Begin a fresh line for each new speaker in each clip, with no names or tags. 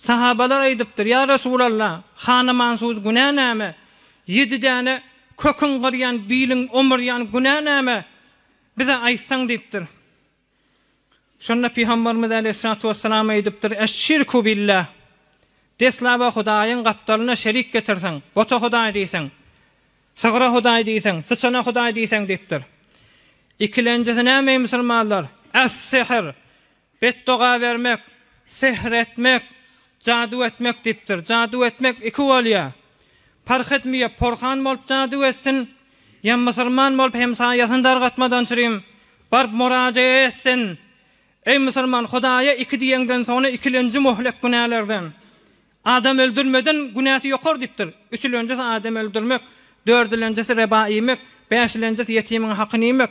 Sahabalar aýdypdyr, Ýa Resulalla, hanamansuz günä näme? Ýedi däne köküň gyrýan, biliň omurýan günä näme? Bize aýtsaň diýipdir. Şonda Pygamberimiz aleýhissalatu wessalam aýdypdyr, Eş-şirku billah, Deslaba Hudaýyň gapdalyna şerik getirseň, bota Hudaý diýseň, sygra Hudaý diýseň, syçana Hudaý diýseň diýipdir. Ikilenjisi näme eý musulmanlar? Es-sihr, Betdoga bermek, sehr etmek, jadyw etmek diýipdir. Jadyw etmek iki bolýar. Parh etmeýär, porhan bolup jadyw etsin, ýa musulman bolup hemsaýasyny dargatmadan çirim baryp murajaýa etsin, Eý musulman, Hudaýa iki diýeňden soňra ikilenji möhlek günälerden. Adam öldürmeden günäsi ýokar diýipdir. Üçülenjisi adam öldürmek, dördülenjisi reba iýmek, bäşilenjisi ýetimiň hakyny iýmek.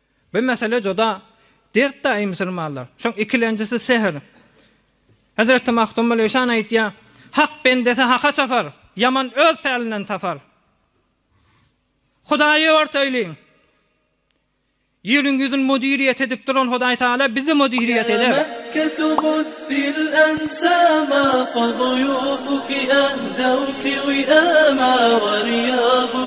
Bu mesele juda dert daýy musulmanlar. Şoň ikilenjisi sehr. Hezreti Magtymguly Işan aýtýa, Hak bendesi haka çapar, ýaman öz pälinden tapar. Hudaýy örteýliň. Ýeriň ýüzün müdiriýet edip duran Hudaý Taala bizi müdiriýet eder.